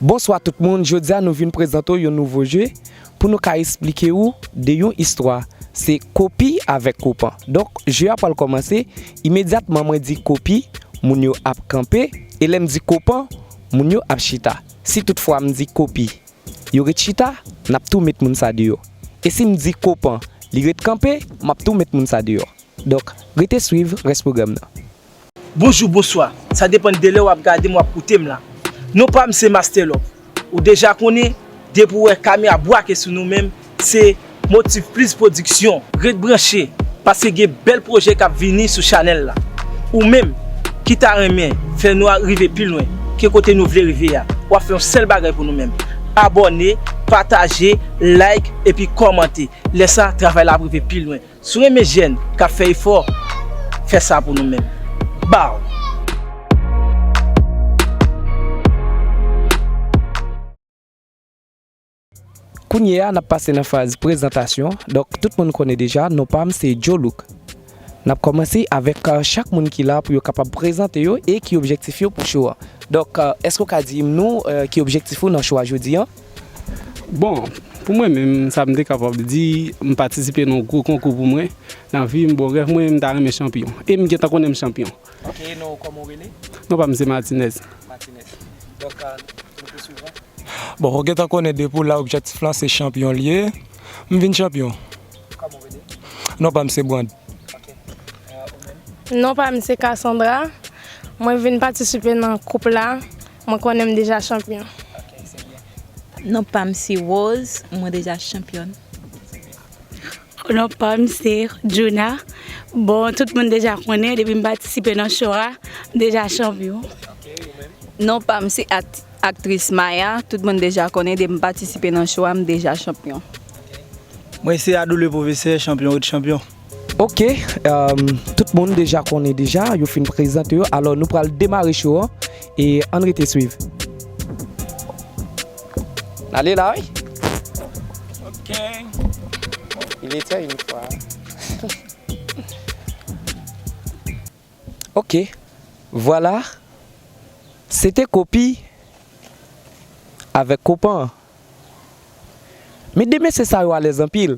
Bonswa tout moun jodi a nou vin prezante w yon nouvo jeu pou nou ka esplike ou de yon istwa se kopi avèk kopan donk jeu a pral kòmanse imedyatman mwen di kopi moun yo ap kanpe e lè m di kopan moun yo ap chita si tout fwa m di kopi yo ret chita n ap tou met moun sa deyò e si m di kopan li ret kanpe m ap tou met moun sa deyò donk rete swiv rès pwogram nan. Bonjou, bonswa, sa depan delè wap gadem wap koutem la. Non pam se Masterlove. Ou deja konnen, depi ou wè kamera bwake sou nou menm, se Motiv Plis Pwodiksyon. Ret branche, paske gen bèl pwojè kap vini sou chanèl la. Ou menm, ki ta renmen fè nou rive pi lwen ke kote nou vle rive a, wap fè yon sèl bagay pou nou menm, abòne, pataje, like epi kòmante. Lè sa, travay la ap rive pi lwen. Si w renmen jèn k ap fè efò, fè sa pou nou menm. Baww! Kounye a n ap pase nan faz prezantasyon, donk tout moun konnen deja non pa m se Jolook. N ap kòmanse avèk chak moun ki la pou yo kapab prezante yo e ki objektif yo pou show an. Donk, èske w ka di m nou ki objektif ou nan show a jodi an? Bon, pou mwen menm, sa m te kapab di, m patisipe nan yon gwo konkou pou mwen nan vi m. Bon, rèv mwen, m ta renmen chanpyon. E m gentan konnen m chanpyon. Ok, e non w kòman w rele? Non pa m se Matinèz. Matinèz. Donk, nou pou suiv la? Bon, ou gentan konnen depi w la objektif lan se chanpyon l ye. M vin chanpyon. Kòman w rele? Non pa m se Brand. Ok. Ou menm? Non pa m se Cassandra. Mwen vin patisipe nan koup la. Mwen konnen m deja chanpyon. Non pa m se Rose, mwen deja chanpyòn. Non pa m se Djouna, bon tout moun deja konnen depi m patisipe nan show a, m deja chanpyon. Non pa m se aktris Maya, tout moun deja konnen depi m patisipe nan show a, m deja chanpyon. Mwen se Adou le pwofesè, chanpyon ret chanpyon. Ok tout moun deja konnen deja yo fin prezante yo alò nou pral demare cho an e ann rete swiv. N ale la wi ok il etait une fois ok vwala se te kopi avèk kopan men de mesye sa yo alèz anpil.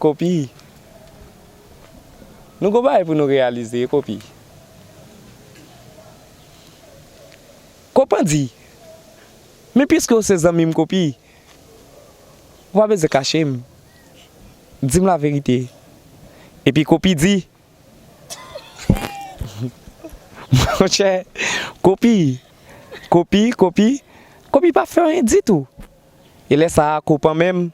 Kopi, Nou gon bagay pou nou reyalize, Kopi, Ko pandi, Men piske ou se zanmi m Kopi, ou pa bezwen kache m, di m laverite Epi Kopi di, Monchè, Kopi, Kopi, Kopi, Kopi pa fè anyen ditou E lè sa a Ko panmen m,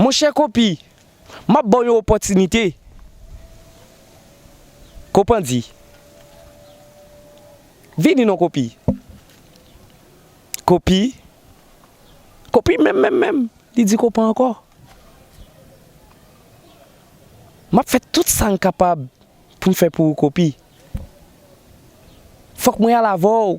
Monchè Kopi, m ap ba w yon opòtinite. Kopandi, Vini non Kopi. Kopi, Kopi menm menm menm, li di Kopan ankò. M ap fè tout sa m kapab pou m fè pou ou Kopi. Fòk mwen al avè w.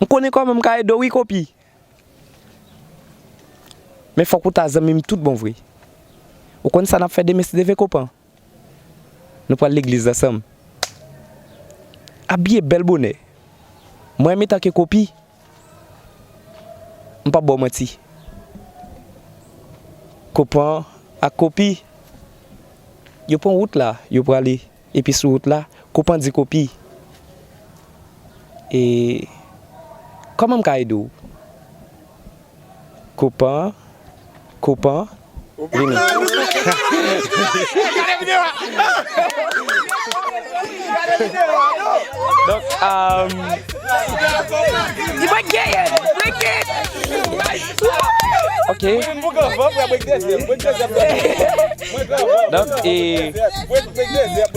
M konnen kòman m ka ede w wi Kopi. Men fòk ou ta zanmi m tout bon vre. Ou konn sa n ap fè demen si Deven Kopan? Nou pral legliz ansanm. Abiye bèl bonè. Mwen menm etanke Kopi, m pap ba w manti. Kopan ak Kopi, yo pran wout la, yo prale. Epi sou wout la, kou pandye kou pi. E kòman m ka ede w? Kou pan, kou pan, vini.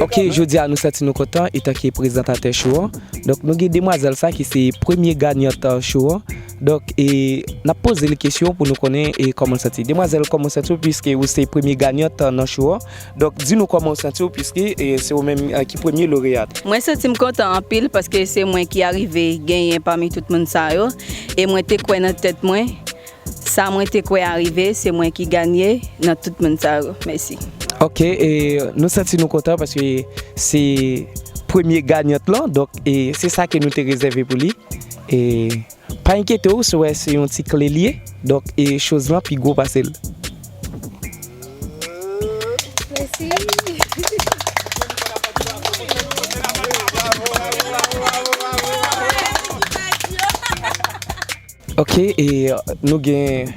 Ok jodi a nou santi nou kontan etanke prezantatè show an Donk nou gen demwazèl sa ki se premye ganyant show an Donk e nap poze li kesyon pou nou konnen e kòman l santi l Demwazèl kòman w santi w pwiske ou se premye ganyant nan show an Donk di nou kòman w santi w pwiske e se ou menm ki premye loreyat. Mwen santi m kontan anpil paske se mwen ki arive genyen pami tout moun sa yo e mwen te kwè nan tèt mwen Sa mwen te kwè a rive se mwen ki ganye nan tout moun sa yo. Mèsi. Ok e nou santi nou kontan paske se premye ganyant lan donk e se sa ke nou te rezève pou li e pa enkyete w si w wè se yon ti kle li ye donk e choz lan pi gwo pase l. Mèsi. Ok e nou gen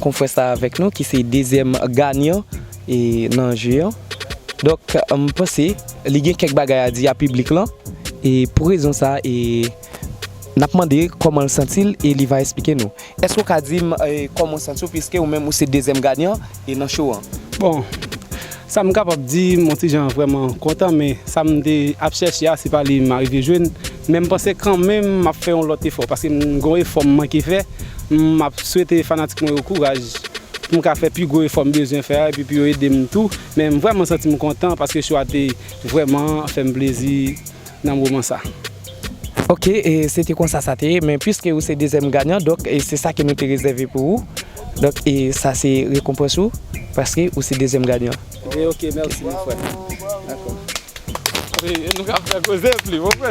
konfrè sa avèk nou ki se dezyèm ganyan e nan je an donk m panse li gen kèk bagay a di a piblik lan e pou rezon sa e n ap mande kòman l santi l e li va esplike nou èske w ka di m kòman w santi w piske ou menm ou se dezyèm ganyan. e nan show an. Bon sa m kapab di m on ti jan vrèman kontan men sa m te ap chèche a se pa li m arive jwenn men m panse kanmenm m ap fè yon lòt efò paske m gen yon efò m manke fè m ap swete fanatik mwen yo kouraj pou m ka fè pi gwo efò m bezwen fè a epi pou yo ede m tou men m vrèman santi m kontan paske show a te vrèman fè m plezi nan moman sa. Ok se te konsa sa te ye men piske ou se dezyèm ganyan donk se sa ke nou te rezève pou ou donk sa se rekonpans ou paske ou se dezyèm ganyan. Ok mèsi mon frè dakò. Nou ka fè koze plis mon frè.